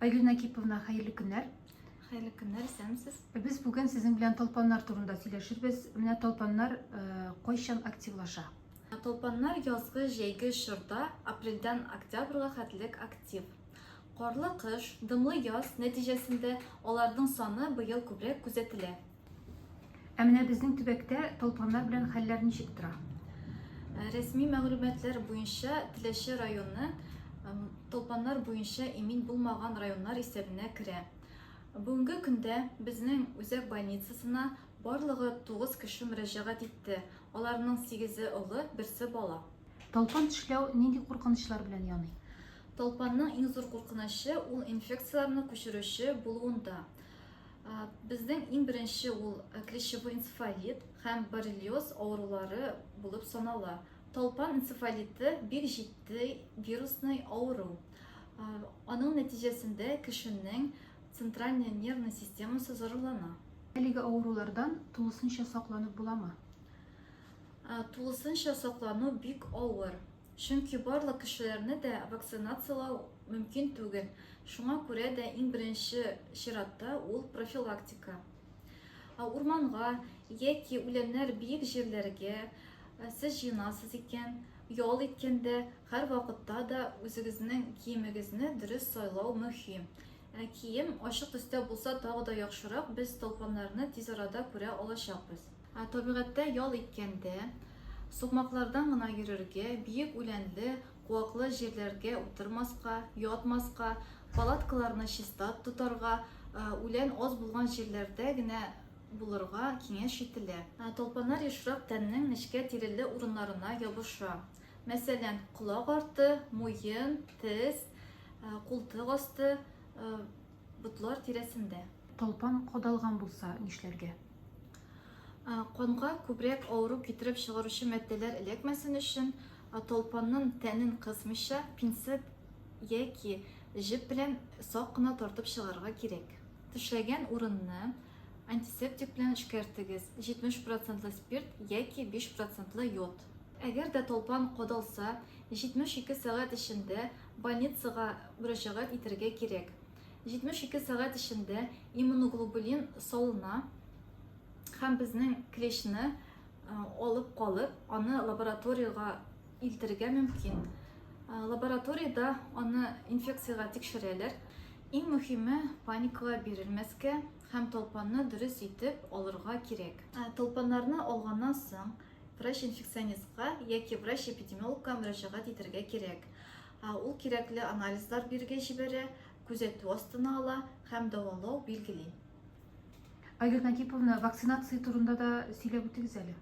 Айгөл Накиповна, хәерле көннәр. Хәерле көннәр, исәнмесез. Без бүген сезнең белән талпаннар турында сөйләшербез. Менә талпаннар э, кайчан активлаша? Талпаннар язгы җәйге чорда апрельдән октябрьга хәтлек актив. Карлы кыш, дымлы яз нәтиҗәсендә аларның саны быел күбрәк күзәтелә. Ә менә безнең төбәктә талпаннар белән хәлләр ничек тора? Э, рәсми мәгълүматлар буенча Теләче районы талпаннар буенча имин булмаган районнар исәбенә керә. Бүгенге көндә безнең үзәк больницасына барлыгы 9 кеше мөрәҗәгать итте. Аларның 8-е олы, берсе бала. Талпан төшләү нинди куркынычлар белән яный? Талпанның иң зур куркынычы ул инфекцияләрне күчерүче булуында. Безнең иң беренче ул клещевой энцефалит һәм боррелиоз авырулары булып санала. Талпан энцефалиты бик җитди вирусный авыру. Аның нәтиҗәсендә кешенең центральный нервный системасы зарарлана. Әлеге авырулардан тулысынча сакланып буламы? Тулысынча саклану бик авыр. Чөнки барлык кешеләрне дә вакцинацияләү мөмкин түгел, шуңа күрә дә иң беренче чиратта ул профилактика. Ә урманга яки үләннәр биек җирләргә сез җыенасыз икән, ял иткәндә һәрвакытта да үзегезнең киемегезне дөрес сайлау мөһим. Ә кием ачык төстә булса тагы да яхшырак, без толкыннарны тиз арада күрә алачакбыз. Ә табигатьтә ял иткәндә, сукмаклардан гына йөрергә, биек үләнле, куаклы җирләргә утырмаска, ятмаска, палаткаларны чиста тотарга, үлән аз булган җирләрдә генә булырга киңәш ителә. Талпаннар ешрак тәннең нечкә тиреле урыннарына ябыша. Мәсәлән, колак арты, муен, тез, култык асты, Ботлар тирәсендә. Талпан кадалган булса нишләргә? Канга күбрәк авыру китереп чыгаручы матдәләр эләкмәсен өчен, талпанның тәнен кысмыйча, пинцет яки җеп белән сак кына тартып чыгарырга кирәк. Тешләгән урынны антисептик белән эшкәртегез, 70 процентлы спирт яки 5 процентлы йод. Әгәр дә талпан кадалса, 72 сәгать эчендә Больницага мөрәҗәгать итәргә кирәк. 72 сәгать эчендә иммуноглобулин салына һәм безнең клещны э, алып калып, аны лабораториягә илтергә мөмкин. Э, лабораториядә аны инфекциягә тикшерәләр. Иң мөһиме паникага бирелмәскә һәм толпанны дөрес итеп алырга кирәк. Э, толпаннарны алганнан соң врач-инфекционистка яки врач-эпидемиологка мөрәҗәгать итәргә кирәк. Ул кирәкле анализлар бирегә җибәрә, күзәтү астына ала һәм дәвалау биргели. Айгөл Нагиповна, вакцинация турында да сөйләп үтегез әле.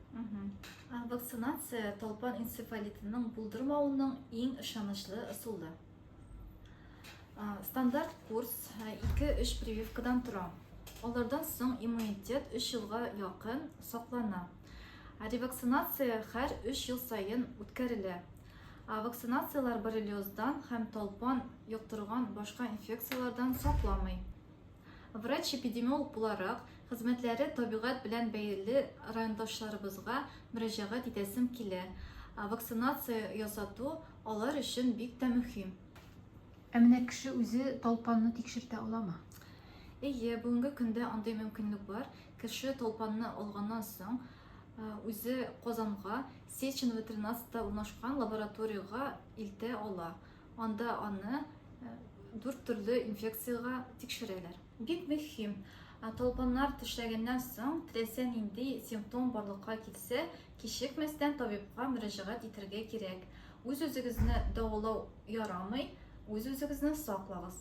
Вакцинация талпан энцефалитының булдырмавының иң ышанычлы ысулы. Стандарт курс 2-3 прививкадан тора. Алардан соң иммунитет 3 елга якын саклана. Ревакцинация хәр 3 ел саен үткәрелә. Ә вакцинацияләр боррелиоздан һәм талпан йоктырган башка инфекцияләрдән сакламый. Врач-эпидемиолог буларак, хезмәтләре табигать белән бәйле райондашларыбызга мөрәҗәгать итәсем килә. Вакцинация ясату алар өчен бик тә мөһим. Ә менә кеше үзе талпанны тикшертә аламы? Әйе, бүгенге көндә андый мөмкинлек бар. Кеше талпанны алганнан соң, үзе Казанга Сеченова 13-та урнашкан лабораториягә илтә ала. Анда аны дүрт төрле инфекциягә тикшерәләр. Бик мөһим, талпаннар тешләгәннән соң, теләсә нинди симптом барлыкка килсә, кичекмәстән табибка мөрәҗәгать итәргә кирәк. Үз-үзегезне дәвалау ярамый, үз-үзегезне саклагыз.